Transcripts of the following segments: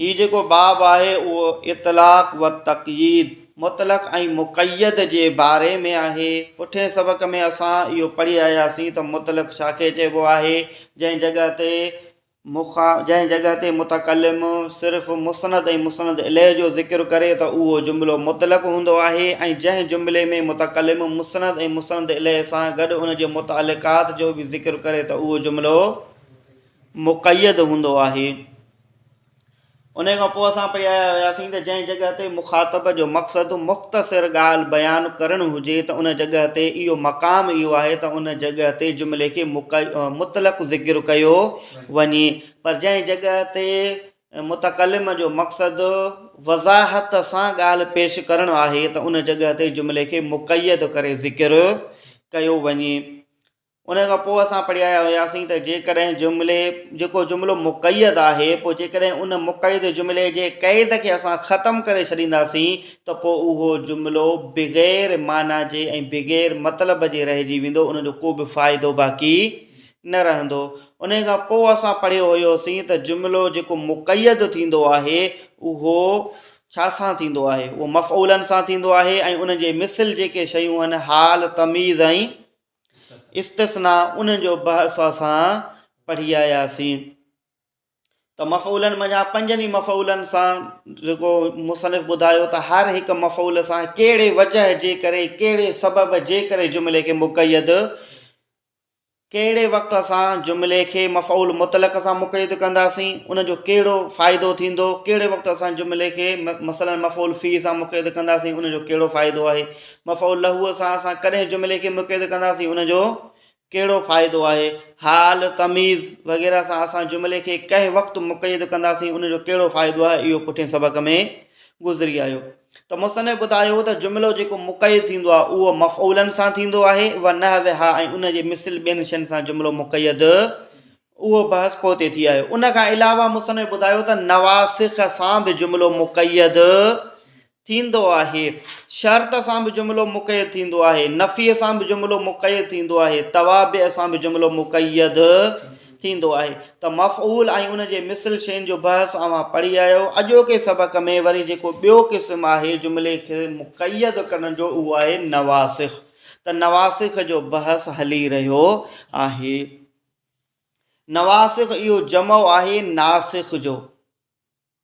هي جيڪو باب آهي اهو اطلاق و تقييد، مطلق ۽ مقيد، جي باري ۾ آهي. پٺئين سبق ۾ اسان اهو پڙهي آياسين ته مطلق ڇا کي چئبو آهي، جنهن جڳهه تي جنهن جڳهه تي متڪلم صرف مسند ۽ مسند اليه جو ذڪر ڪري ته اهو جملو مطلق هوندو آهي ۽ جنهن جملي ۾ متڪلم مسند ۽ مسند اليه سان گڏ ان جي متعلقات جو به ذڪر ڪري ته اهو جملو مقيد هوندو آهي. ان کان پوء اسان پئي آيا هياسين ته جنهن جڳهه تي مخاطب جو مقصد مختصر ڳالهه بيان ڪرڻ هجي ته ان جڳهه تي اهو مقام اهو آهي ته ان جڳهه تي جملي کي مطلق ذڪر ڪيو وڃي پر جنهن جڳهه تي متڪلم جو مقصد وضاحت سان ڳالهه پيش ڪرڻ آهي ته ان جڳهه تي جملي کي مقيد ڪري ذڪر ڪيو وڃي. ان کان پوء اسان پڙهي آيا هياسين ته جيڪڏهن جملي جيڪو جملو مقيد آهي پوء جيڪڏهن ان مقيد جملي جي قيد کي اسان ختم ڪري ڇڏينداسين ته پوء اهو جملو بغير معنيٰ جي ۽ بغير مطلب جي رهجي ويندو ان جو ڪو به فائدو باقي نه رهندو ان کان پوء اسان پڙهيو هيوسين ته جملو جيڪو مقيد ٿيندو آهي اهو ڇا سان ٿيندو آهي؟ اهو مفعولاً سان ٿيندو آهي ۽ ان جي مثل جيڪي شيون آهن، حال، تمييز ۽ استثناء، انهن جو بحث اسان پڙهي آياسين ته مفعولن منجهان پنجن ئي مفعولن سان جيڪو مصنف ٻڌايو ته هر هڪ مفعول سان ڪهڙي وجه جي ڪري، ڪهڙي سبب جي ڪري جملي کي مقيد ڪهڙي وقت اسان جملي کي مفعول مطلق سان مقيد ڪنداسين ان جو ڪهڙو فائدو ٿيندو ڪهڙي وقت اسان جملي کي مثلا مفعول فيه سان مقيد ڪنداسين ان جو ڪهڙو فائدو آهي مفعول له سان اسان ڪڏهن جملي کي مقيد ڪنداسين ان جو ڪهڙو فائدو آهي حال تميز وغيره سان اسان جملي کي ڪنهن وقت مقيد ڪنداسين ان جو ڪهڙو فائدو آهي اهو پٺين سبق ۾ گذري آيو ته مصنف ٻڌايو ته جملو جيڪو مقيد ٿيندو آهي اهو مفعولن سان ٿيندو آهي ونحوها ۽ ان جي مثل ٻين شين سان جملو مقيد اهو بحث پوئتي ٿي آيو ان کان علاوه مصنف ٻڌايو ته نواسخ سان به جملو مقيد ٿيندو آهي شرط سان به جملو مقيد ٿيندو آهي نفي سان به جملو مقيد ٿيندو آهي توابع سان به جملو مقيد ٿيندو آهي ته مفعول ۽ ان جي مثل شين جو بحث اوهان پڙهي آيا آهيو اڄوڪي سبق ۾ وري جيڪو ٻيو قسم آهي جملي کي مقيد ڪرڻ جو اهو آهي نواسخ ته نواسخ جو بحث هلي رهيو آهي نواسخ اهو جمع آهي ناسخ جو.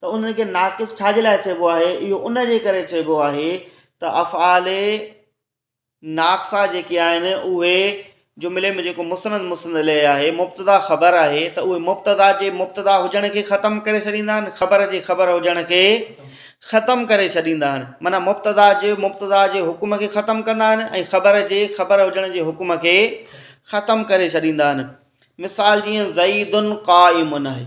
ته انهن کي ناقص ڇا جي لاء چئبو آهي؟ اهو ان جي ڪري چئبو آهي ته افعال ناقصا جيڪي آهن اهي جملي ۾ جيڪو مسند مسند الیه آهي مبتدا خبر آهي ته اهي مبتدا جي مبتدا هجڻ کي ختم ڪري ڇڏيندا آهن خبر جي خبر هجڻ کي ختم ڪري ڇڏيندا آهن معنيٰ مبتدا جي مبتدا جي حڪم کي ختم ڪندا آهن ۽ خبر جي خبر هجڻ جي حڪم کي ختم ڪري ڇڏيندا آهن مثال جيئن زئيدن قائمن آهي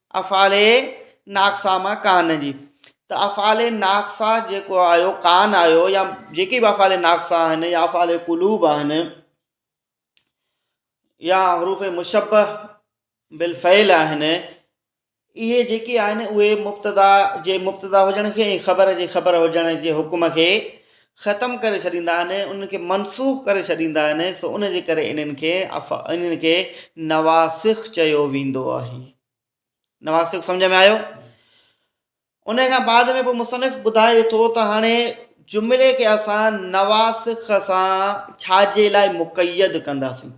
افعال ناقصه مان ڪان جي ته افعال ناقصه جيڪو آيو ڪان آيو يا جيڪي به افعال ناقصه آهن يا افعال قلوب آهن يا حروف مشبه بالفعل آهن اهي جيڪي آهن اهي مبتدا جي مبتدا هجڻ کي ۽ خبر جي خبر هجڻ جي حڪم کي ختم ڪري ڇڏيندا آهن انهن کي منسوخ ڪري ڇڏيندا آهن سو ان جي ڪري انهن کي انهن کي نواسخ چيو ويندو آهي نواسخ سمجھ ۾ آيو ان کان بعد ۾ پوء مصنف ٻڌائي ٿو ته هاڻي جملي کي اسان نواسخ سان ڇاجي لاء مقيد ڪنداسين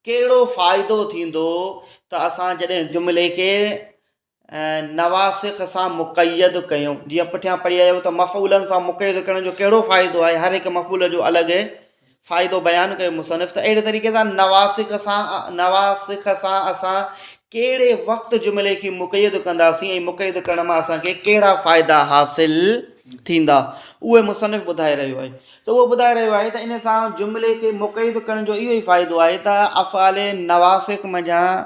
ڪهڙو فائدو ٿيندو ته اسان جڏهن جملي کي نواسخ سان مقيد ڪيو. جيئن پٺيان پڙهي آيو ته مفعولن سان مقيد ڪرڻ جو ڪهڙو فائدو آهي، هر هڪ مفعول جو الڳ فائدو بيان ڪيو مصنف ته اهڙي طريقي سان نواسخ سان نواسخ سان اسان ڪهڙي وقت جملي کي مقيد ڪنداسين ۽ مقيد ڪرڻ مان اسان کي ڪهڙا فائدا حاصل ٿيندا اهي مصنف ٻڌائي رهيو آهي ته اهو ٻڌائي رهيو آهي ته ان سان جملي کي مقيد ڪرڻ جو اهو ئي فائدو آهي ته افعال نواسخ منجهان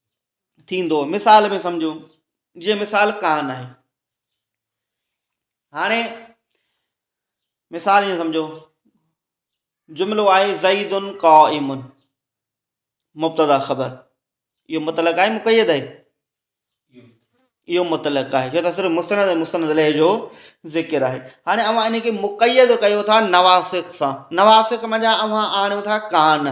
ٿيندو مثال ۾ سمجهو جيئن مثال ڪان آهي هاڻي مثال ائين سمجهو جملو آهي زيدن قا امن مبتدا خبر اهو مطلق آهي مقيد آهي اهو مطلق آهي جو صرف مستند ۽ مستند لئه جو ذڪر آهي هاڻي اوهان ان کي مقيد ڪيو ٿا نواسخ سان نواسخ منجهان اوهان آڻيو ٿا ڪان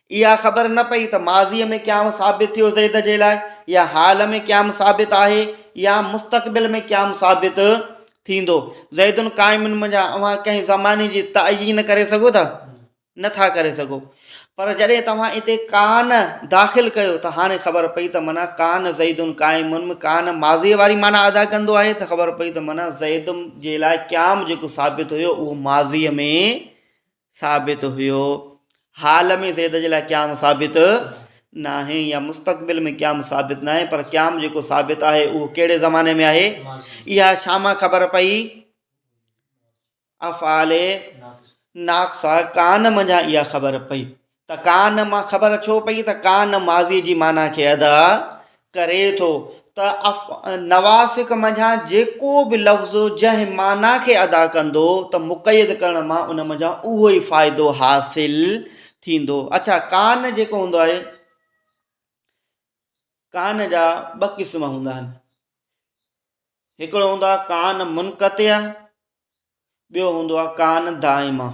اها خبر نه پئي ته ماضيء ۾ قيام ثابت ٿيو زيد جي لاء يا حال ۾ قيام ثابت آهي يا مستقبل ۾ قيام ثابت ٿيندو. زيد قائم منجهان اوهان ڪنهن زماني جي تعين ڪري سگهو ٿا؟ نه ٿا ڪري سگهو. پر جڏهن توهان اتي ڪان داخل ڪيو ته هاڻي خبر پئي ته معنيٰ ڪان زيد قائم ۾ ڪان ماضيء واري معنيٰ ادا ڪندو آهي ته خبر پئي ته معنيٰ زيد جي لاء قيام جيڪو ثابت هيو اهو ماضيء ۾ ثابت هيو. حال ۾ زيد جي لاء قيام ثابت ناهي يا مستقبل ۾ قيام ثابت ناهي پر قيام جيڪو ثابت آهي اهو ڪهڙي زماني ۾ آهي اها ڇا مان خبر پئي افعال ناقصه ڪان منجهان اها خبر پئي ته ڪان مان خبر ڇو پئي ته ڪان ماضيء جي معنيٰ کي ادا ڪري ٿو ته اف نواسخ منجهان جيڪو به لفظ جنهن معنيٰ کي ادا ڪندو ته مقيد ڪرڻ مان ان منجهان اهو ئي فائدو حاصل ٿيندو. اڇا ڪان جيڪو هوندو آهي ڪان جا ٻه قسم هوندا آهن هڪڙو هوندو آهي ڪان منقطع ٻيو هوندو آهي ڪان دائمه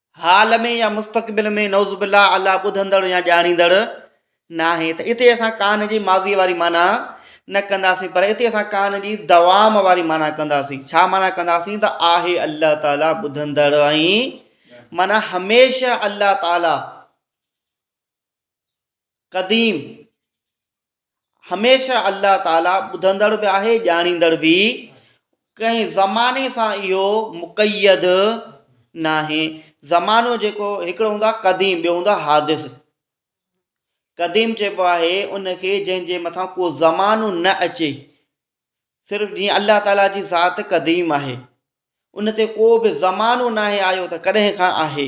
حال ۾ يا مستقبل ۾ نعوذ بالله الله ٻڌندڙ يا ڄاڻيندڙ ناهي ته اتي اسان ڪان جي ماضيء واري معنيٰ نه ڪنداسين پر اتي اسان ڪان جي دوام واري معنيٰ ڪنداسين ڇا معنيٰ ڪنداسين ته آهي الله تعالي ٻڌندڙ ۽ معنيٰ هميشه الله تعالي قديم هميشه الله تعالي ٻڌندڙ به آهي ڄاڻيندڙ به. ڪنهن زماني سان اهو مقيد ناهي زمانو جيڪو هڪڙو هوندو آهي قديم ٻيو هوندو آهي حادث قديم چئبو آهي ان کي جنهن جي مٿان ڪو زمانو نه اچي صرف جيئن الله تعالا جي ذات قديم آهي ان تي ڪو به زمانو ناهي آيو ته ڪڏهن کان آهي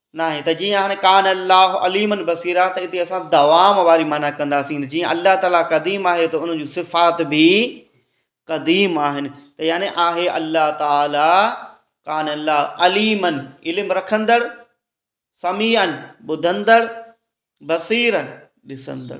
ناهي ته جيئن هاڻي ڪان الله عليما بصيرا ته اتي اسان دوام واري معنيٰ ڪنداسين جيئن الله تعاليٰ قديم آهي ته ان جون صفات به قديم آهن ته يعني آهي الله تعاليٰ ڪان الله عليما علم رکندڙ سميعا ٻڌندڙ بصيرا ڏسندڙ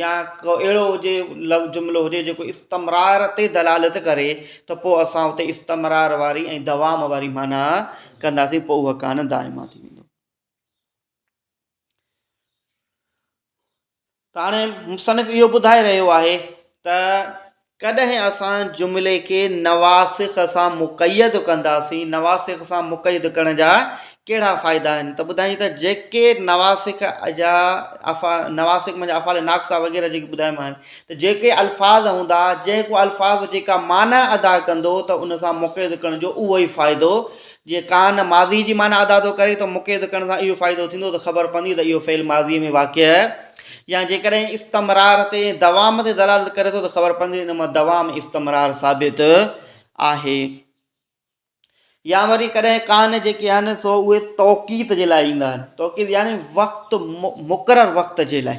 يا ڪو اهڙو هجي لفظ جملو هجي جيڪو استمرار تي دلالت ڪري ته پوء اسان اتي استمرار واري ۽ دوام واري معنيٰ ڪنداسين پوء اهو ڪان دائما ٿي ويندو. ته هاڻي مصنف اهو ٻڌائي رهيو آهي ته ڪڏهن اسان جملي کي نواسخ سان مقيد ڪنداسين، نواسخ سان مقيد ڪرڻ جا ڪهڙا فائدا آهن ته ٻڌايائين ته جيڪي نواسخ جا نواسخ معنيٰ افعال ناقصه وغيره جيڪي ٻڌايم آهن ته جيڪي الفاظ هوندا جيڪو الفاظ جيڪا معنيٰ ادا ڪندو ته ان سان مقيد ڪرڻ جو اهو ئي فائدو جي ڪان ماضي جي معنيٰ ادا ٿو ڪري ته مقيد ڪرڻ سان اهو فائدو ٿيندو ته خبر پوندي ته اهو فعل ماضيء ۾ واقع آهي يا جيڪڏهن استمرار تي ۽ دوام تي دلالت ڪري ٿو ته خبر پوندي ته ان مان دوام استمرار ثابت آهي يا وري ڪڏهن ڪان جيڪي آهن سو اهي توقيت جي لاء ايندا آهن توقيت يعني وقت مقرر وقت جي لاء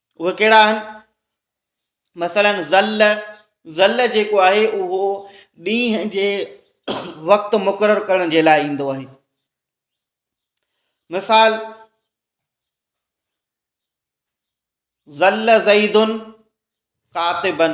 اهي ڪهڙا آهن مثلا ظل ظل جيڪو آهي اهو ڏينهن جي وقت مقرر ڪرڻ جي لاء ايندو آهي مثال ظل زيدن ڪاتبن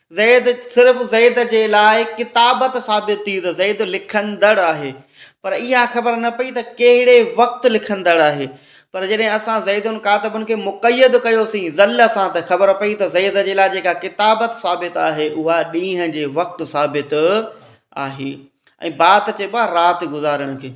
زيد، صرف زيد جي لاء ڪتابت ثابت ٿي ته زيد لکندڙ آهي، پر اها خبر نه پئي ته ڪهڙي وقت لکندڙ آهي، پر جڏهن اسان زيد ڪاتبن کي مقيد ڪيوسين ذل سان ته خبر پئي ته زيد جي لاء جيڪا ڪتابت ثابت آهي اها ڏينهن جي وقت ثابت آهي ۽ بات چئبو آهي رات گذارڻ کي.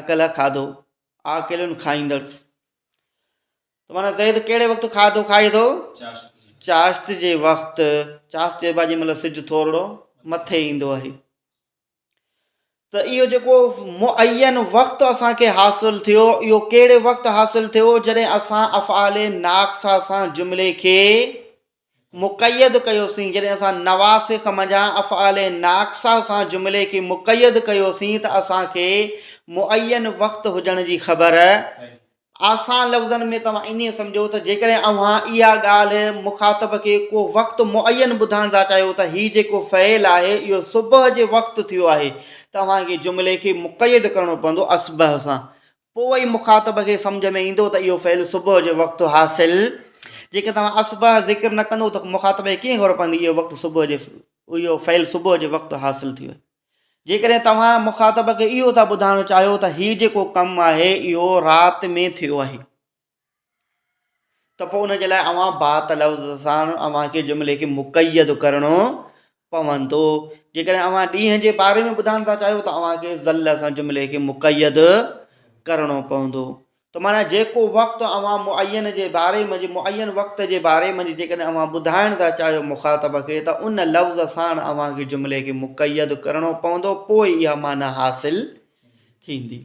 اڪيلا کاڌو آ اڪيلن کائيندڙ ته مانا زيد ڪهڙي وقت کاڌو کائي ٿو چاشت جي وقت چاشت چئبو آهي جنهن مهل سج ٿورڙو مٿي ايندو آهي ته اهو جيڪو معين وقت اسانکي حاصل ٿيو اهو ڪهڙي وقت حاصل ٿيو جڏهن اسان افعال ناقصا سان جملي کي مقيد ڪيوسين، جڏهن اسان نواسخ منجهان افعال ناقصه سان جملي کي مقيد ڪيوسين ته اسان کي معين وقت هجڻ جي خبر آسان لفظن ۾ توهان ائين سمجهو ته جيڪڏهن اوهان اها ڳالهه مخاطب کي ڪو وقت معين ٻڌائڻ ٿا چاهيو ته هي جيڪو فعل آهي اهو صبح جي وقت ٿيو آهي ته اوهان کي جملي کي مقيد ڪرڻو پوندو اصبح سان پوء ئي مخاطب کي سمجهه ۾ ايندو ته اهو فعل صبح جو وقت حاصل جيڪڏهن توهان اصبح ذڪر نه ڪندو ته مخاطب کي ڪيئن خبر پوندي اهو وقت صبح جي اهو فعل صبح جي وقت حاصل ٿيو جيڪڏهن توهان مخاطب کي اهو ٿا ٻڌائڻ چاهيو ته هي جيڪو ڪم آهي اهو رات ۾ ٿيو آهي ته پوء ان جي لاء اوهان بات لفظ سان اوهان کي جملي کي مقيد ڪرڻو پوندو جيڪڏهن اوهان ڏينهن جي باري ۾ ٻڌائڻ ٿا چاهيو ته اوهان کي ظل سان جملي کي مقيد ڪرڻو پوندو ته معنيٰ جيڪو وقت اوهان معين جي باري ۾ معين وقت جي باري ۾ جيڪڏهن اوهان ٻڌائڻ ٿا چاهيو مخاطب کي ته ان لفظ سان اوهان کي جملي کي مقيد ڪرڻو پوندو پوء اها معنيٰ حاصل ٿيندي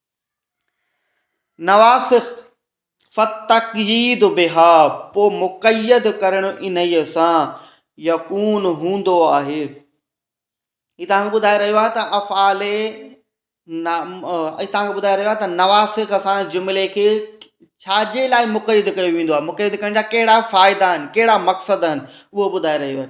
نواسخ، فالتقييد بها، پوء مقيد ڪرڻ انهيء سان، يڪون هوندو آهي. هي توهان کي ٻڌائي رهيو آهي ته افعال هي توهان کي ٻڌائي رهيو آهي ته نواسخ سان جملي کي ڇا جي لاء مقيد ڪيو ويندو آهي مقيد ڪرڻ جا ڪهڙا فائدا آهن ڪهڙا مقصد آهن اهو ٻڌائي رهيو آهي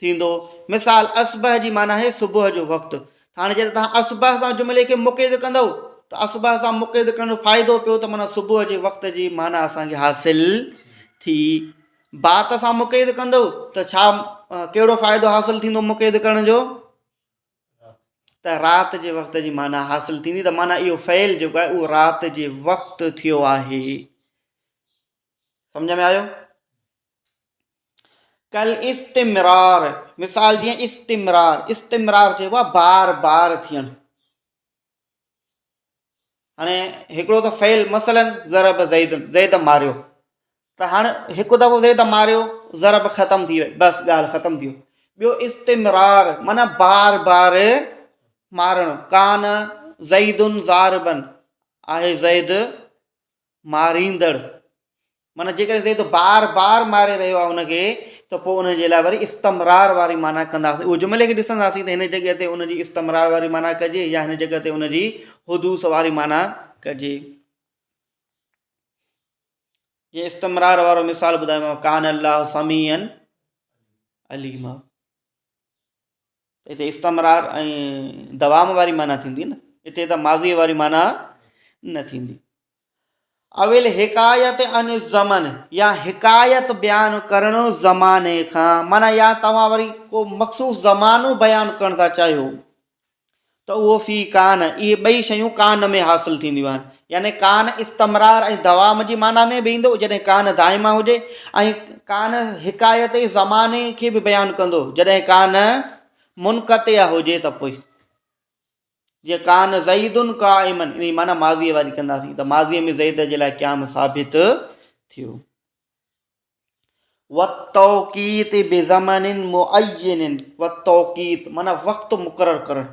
ٿيندو. مثال، اصبح جي معنيٰ آهي صبح جو وقت. هاڻي جڏهن توهان اصبح سان جملي کي مقيد ڪندؤ ته اصبح سان مقيد ڪرڻ جو فائدو پيو ته معنيٰ صبح جي وقت جي معنيٰ اسان کي حاصل ٿي. بات سان مقيد ڪندؤ ته ڇا ڪهڙو فائدو حاصل ٿيندو مقيد ڪرڻ جو ته رات جي وقت جي معنيٰ حاصل ٿيندي ته معنيٰ اهو فعل جيڪو آهي اهو رات جي وقت ٿيو آهي. سمجھ ۾ آيو؟ ڪالاستمرار، مثال جيئن استمرار، استمرار چئبو آهي بار بار ٿيڻ. هاڻي هڪڙو ته فعل مثلاً ضرب زيد، زيد ماريو ته هاڻي هڪ دفعو زيد ماريو ضرب ختم ٿي ويو بس ڳالهه ختم ٿي ويو. ٻيو استمرار معنيٰ بار بار مارڻ، ڪان زيد ضاربن، آهي زيد ماريندڙ معنيٰ جيڪڏهن چئي ٿو بار بار ماري رهيو آهي ان کي ته پوء ان جي لاء وري استمرار واري معنيٰ ڪنداسين اهو جملي کي ڏسنداسين ته هن جڳهه تي ان جي استمرار واري معنيٰ ڪجي يا هن جڳهه تي ان جي حدوث واري معنيٰ ڪجي جي استمرار وارو مثال ٻڌايو ڪان الله سميعن عليما هتي استمرار ۽ دوام واري معنيٰ ٿيندي نه هتي ته ماضيء واري معنيٰ نه ٿيندي اول حڪايت ان زمن يا حڪايت بيان ڪرڻ زماني کان معنيٰ يا توهان وري ڪو مخصوص زمانو بيان ڪرڻ ٿا چاهيو ته اهو في ڪان اهي ٻئي شيون ڪان ۾ حاصل ٿينديون آهن يعني ڪان استمرار ۽ دوام جي معنيٰ ۾ به ايندو جڏهن ڪان دائما هجي ۽ ڪان حڪايتي زماني کي به بيان ڪندو جڏهن ڪان منقطع هجي ته پوء جيئن ڪان زيدن قائمن ان معنی ماضيء واري ڪنداسين ته ماضيء ۾ زيد جي لاء قيام ثابت ٿيو وتوقيت بزمن معين وتوقيت معنی وقت مقرر ڪرڻ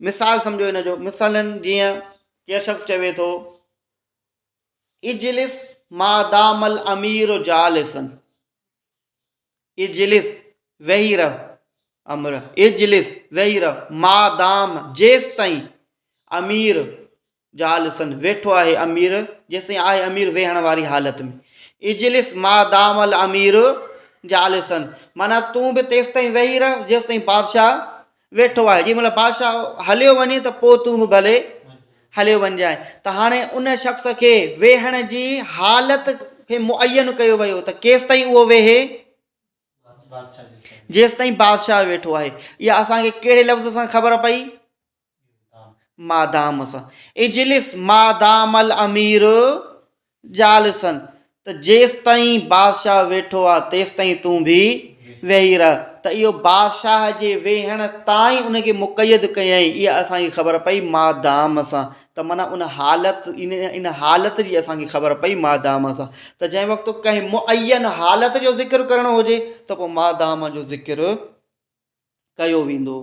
مثال سمجهو ان جو، مثلاً جيئن ڪي شخص چوي ٿو، اجلس ما دام الامير جالسا، اجلس ويهي رهه، امر اجلس ويهي رهه، ما دام جيستائين امير زال سندس، ويٺو آهي امير، جيسين آهي امير ويهڻ واري حالت ۾، اجلس ما دام الامير جالسا، معنيٰ تون به تيستائين ويهي رهه جيستائين بادشاهه ويٺو آهي، جنهن مهل بادشاهه هليو وڃي ته پوء تون به ڀلي هليو وڃجانء. ته هاڻي ان شخص کي ويهڻ جي حالت کي معين ڪيو ويو ته ڪيستائين اهو ويهي، جيستائين بادشاهه ويٺو آهي. اها اسان کي ڪهڙي لفظ سان خبر پئي؟ مادام سان اجلس مادام الامير جالسا ته جيستائين بادشاهه ويٺو آهي تيستائين تون به ويهي رهه ته اهو بادشاهه جي ويهڻ تائين ان کي مقيد ڪيائين اها اسان کي خبر پئي مادام سان ته معنيٰ ان حالت ان حالت جي اسان کي خبر پئي مادام سان ته جنهن وقت ڪنهن معين حالت جو ذڪر ڪرڻو هجي ته پوء مادام جو ذڪر ڪيو ويندو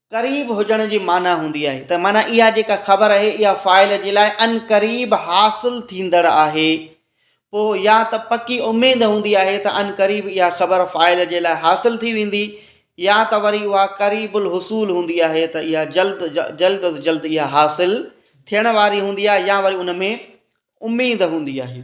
قريب هجڻ جي معنيٰ هوندي آهي ته معنيٰ اها جيڪا خبر آهي اها فاعل جي لاء عنقريب حاصل ٿيندڙ آهي پوء يا ته پڪي اميد هوندي آهي ته عنقريب اها خبر فاعل جي لاء حاصل ٿي ويندي يا ته وري اها قريب الحصول هوندي آهي ته اها جلد جلد از جلد اها حاصل ٿيڻ واري هوندي آهي يا وري ان ۾ اميد هوندي آهي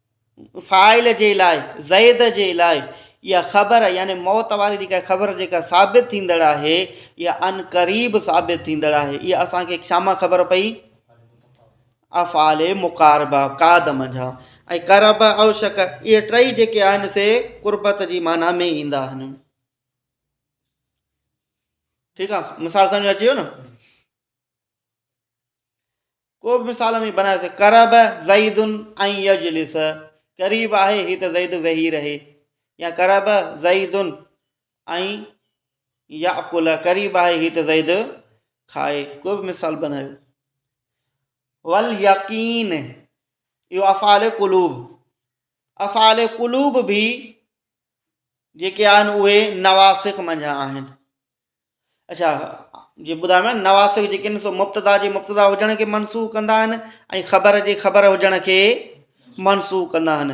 فاعل جي لاء، زيد جي لاء، اها خبر يعني موت واري جيڪا خبر جيڪا ثابت ٿيندڙ آهي، اها عنقريب ثابت ٿيندڙ آهي. اها اسان کي ڇا مان خبر پئي؟ افعال مقاربه، قاد منجهان ۽ قرب اوشڪ، اهي ٽئي جيڪي آهن سي قربت جي معنيٰ ۾ ايندا آهن. ٺيڪ آ، مثال سمجهه ۾ اچي ويو نه. ڪو به مثال اوهين بنائي سگهو قرب زيد ان يجلس قريب آهي هي ته زيد ويهي رهي يا قرب زيد ان ياڪل قريب آهي هي ته زيد کائي ڪو به مثال بنايو ول يقين اهو افعال قلوب افعال قلوب به جيڪي آهن اهي نواسخ منجهان آهن اڇا جي ٻڌايو آهي نواسخ جيڪي آهن سو مبتدا جي مبتدا هجڻ کي منسوخ ڪندا آهن ۽ خبر جي خبر هجڻ کي منسوخ ڪندا آهن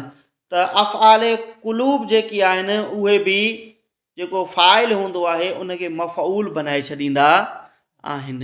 ته افعال قلوب جيڪي آهن اهي به جيڪو فائل هوندو آهي ان کي مفعول بنائي ڇڏيندا آهن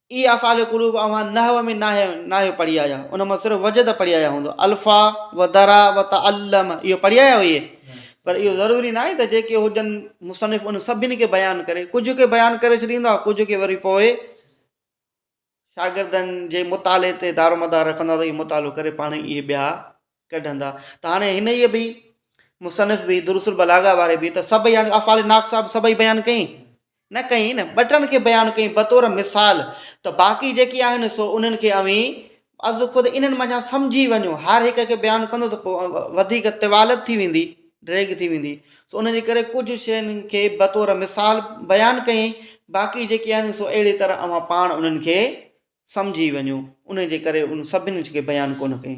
اهي افعال قلوب اوهان نحو ۾ ناهي ناهيو پڙهي آيا ان مان صرف وجد پڙهي آيا هوندو الفا و درا و تعلم اهو پڙهي آيا هئي پر اهو ضروري ناهي ته جيڪي هجن مصنف ان سڀني کي بيان ڪري ڪجهه کي بيان ڪري ڇڏيندو آهي ڪجهه کي وري پوء شاگردن جي مطالعي تي دارومدار رکندو آهي ته اهي مطالعو ڪري پاڻ اهي ٻيا ڪڍندا ته هاڻي هن ئي به مصنف به دروس البلاغه واري به ته سڀئي يعني افعال ناقصه صاحب سڀئي بيان ڪئي نه ڪئي نه ٻه ٽن کي بيان ڪئي بطور مثال ته باقي جيڪي آهن سو انهن کي اوهين از خود انهن منجهان سمجهي وڃو هر هڪ کي بيان ڪندو ته پوء وڌيڪ طوالت ٿي ويندي ڊريگ ٿي ويندي سو ان جي ڪري ڪجهه شين کي بطور مثال بيان ڪئي باقي جيڪي آهن سو اهڙي طرح اوهان پاڻ انهن کي سمجهي وڃو ان جي ڪري ان سڀني کي بيان ڪونه ڪئي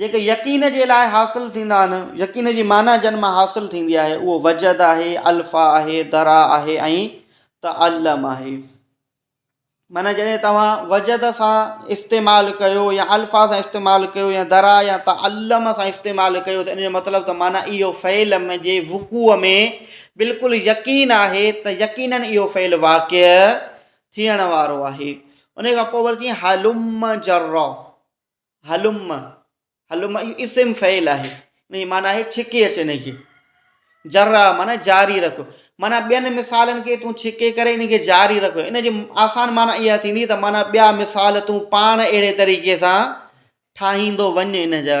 جيڪي يقين جي لاء حاصل ٿيندا آهن، يقين جي معنيٰ جن مان حاصل ٿيندي آهي اهو وجد آهي، الفا آهي، درا آهي ۽ تعلم آهي. معنيٰ جڏهن توهان وجد سان استعمال ڪيو يا الفا سان استعمال ڪيو يا درا يا تعلم سان استعمال ڪيو ته ان جو مطلب ته معنيٰ اهو فعل جي وقوع ۾ بلڪل يقين آهي ته يقيناً اهو فعل واقع ٿيڻ وارو آهي. ان کان پوء وري چيائين هلم جرا. هلم هلم اهو اسم فعل آهي ان جي معنيٰ آهي ڇڪي اچ ان کي جرا معنيٰ جاري رک معنيٰ ٻين مثالن کي تون ڇڪي ڪري ان کي جاري رک ان جي آسان معنيٰ اها ٿيندي ته معنيٰ ٻيا مثال تون پاڻ اهڙي طريقي سان ٺاهيندو وڃ ان جا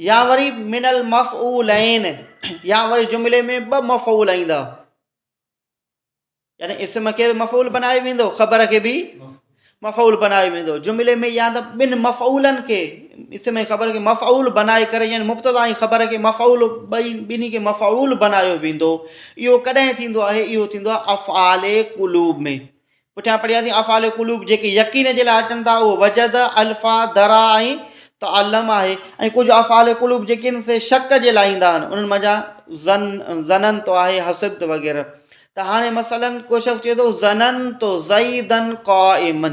يا وري من المفعولين يا وري جملي ۾ ٻه مفعول ايندا يعني اسم کي به مفعول بنايو ويندو خبر کي به مفعول بنايو ويندو جملي ۾ يا ته ٻن مفعولن کي اسم ۽ خبر کي مفعول بنائي ڪري يعني مبتدا ۽ خبر کي مفعول ٻئي ٻنهي کي مفعول بنايو ويندو اهو ڪڏهن ٿيندو آهي اهو ٿيندو آهي افعال قلوب ۾ پٺيان پڙهياسين افعال القلوب جيڪي يقين جي لاء اچن ٿا اهو وجد، الفا، درا ۽ تعلم آهي ۽ ڪجهه افعال القلوب جيڪي آهن سي شڪ جي لاء ايندا آهن انهن منجهان ظن، ظننت آهي حسبت وغيره ته هاڻي مثلا ڪو شخص چئي ٿو ظننت زيدا قائما.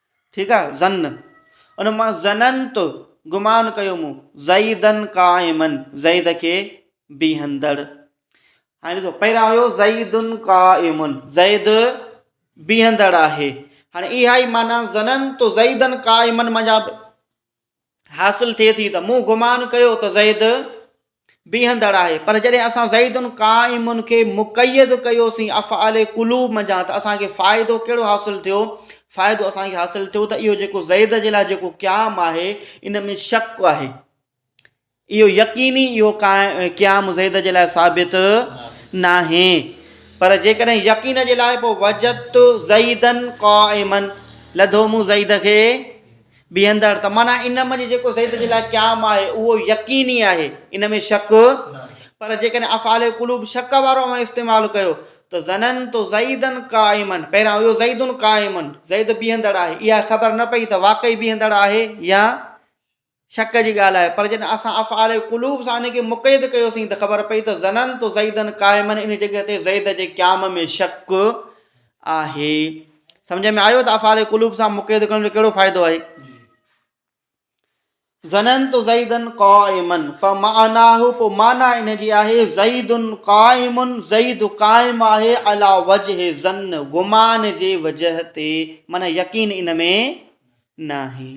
ٺيڪ آ ظن ان مان ظننت گمان ڪيو مون زيدا قائما زيد کي بيهندڙ هاڻي ڏسو پهريان هيو زيد قائم زيد بيهندڙ آهي هاڻي اها ئي معنی ظننت زيدا قائما منجا حاصل ٿئي ٿي ته مون گمان ڪيو ته زيد بيهندڙ آهي پر جڏهن اسان زيد قائم کي مقيد ڪيوسين افعال قلوب منجهان ته اسانکي فائدو کهڙو حاصل ٿيو فائدو اسانکي حاصل ٿيو ته اهو جيڪو زيد جي لاء جيڪو قيام آهي ان ۾ شڪ آهي اهو يقيني اهو قيام زيد جي لاء ثابت ناهي پر جيڪڏهن يقين جي لاء پوء وجدت زيدا قائما لڌو مون زيد کي بيهندڙ ته معنيٰ ان منجهه جيڪو زيد جي لاء قيام آهي اهو يقيني آهي ان ۾ شڪ پر جيڪڏهن افعال قلوب شڪ وارو اوهان استعمال ڪيو ته ظننت زيدا قائما پهريان اهو زيد قائما زيد بيهندڙ آهي اها خبر نه پئي ته واقعي بيهندڙ آهي يا شڪ جي ڳالهه آهي پر جڏهن اسان افعال قلوب سان ان کي مقيد ڪيوسين ته خبر پئي ته ظننت زيدا قائما ان جڳهه تي زيد جي قيام ۾ شڪ آهي سمجھ ۾ آيو ته افعال قلوب سان مقيد ڪرڻ جو ڪهڙو فائدو آهي ظننت زيدا قائما فمعناه پو معنی ان جي آهي زيد قائم زيد قائم آهي علا وجه ظن گمان جي وجه تي من يقين ان ۾ ناهي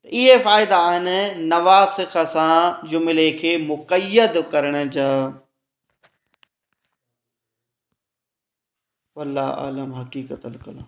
ته اهي فائدا آهن نواسخ سان جملي کي مقيد ڪرڻ جا والله اعلم حقيقت الڪلام